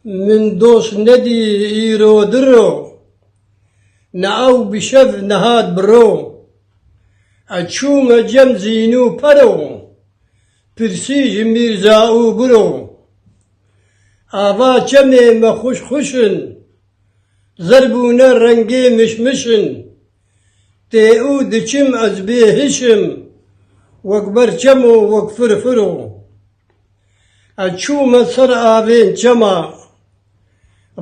Min dost nedî îro diro. Ne ew bi şev nehat bi ro. Ez çûme cem zîn û pero. Pirsî ji mîrza û biro. Ava çemê me xwişk xwişk in. Zer bûne rengê miş miş in. Tê û diçim ez bê hiş im. Wek ber çemo wek fir firo. Ez çûme ser avên çema.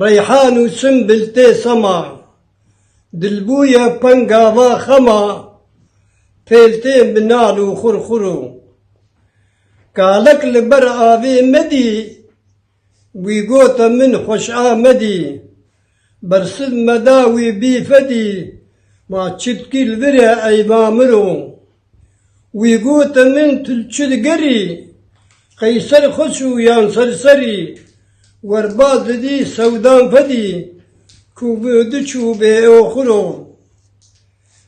Reyhan û simbil tê sema. Dil bûye pengava xema. Pêl tê minan û xurxuro. Kalek li ber avê me dî. Wî got a min xweş amedî. Bersiv me da wî bî fedî. Ma çitkî li vir e ey mamiro. Wî got a min tu li çi digerî. Qey ser xweş û yan ser serî. Werbaz didî sewdan fedî. Ku bi di çû bê oxiro.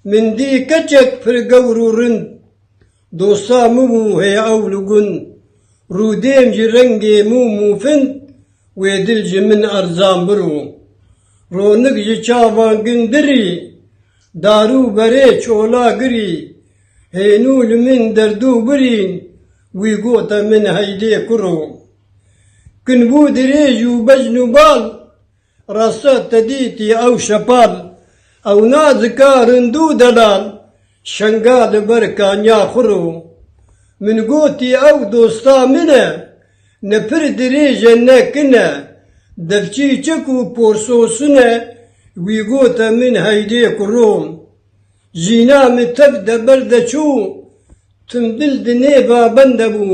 Min dî keçek pir gewr û rind. Dosta mûm û heye ewl û gun. Rûdêm ji rengê mûm û fin, wê dil ji min erzan biro. Ronik ji çavan gin dirî, darû berê çola girî. Hênû li min derdû birîn, wî gote min heydê kuro. Kin bû dirêj û becn û bal. Rasta te dîtî ew şepal. Ew nazika rindû delal. Şenga li ber kaniya xwe rû. Min gotî ew dosta min e. Ne pir dirêj e ne kin e. Devçî çek û porsosin e. Wî gote min heydê ku rû. Jîna min tev de ber de çû. Tim bil di nêva bende bû.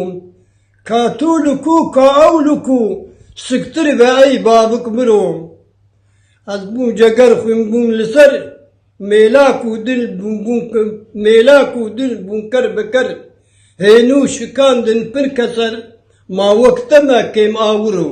Ka tu li ku ka ew li ku siktir be ey babik min o. Ez bûm ceger xwîn bûm li ser mêlak û dil bûm bûm mêlak û dil bûm ker bi ker hênû şikandin pir keser ma wek te me kêm awir o.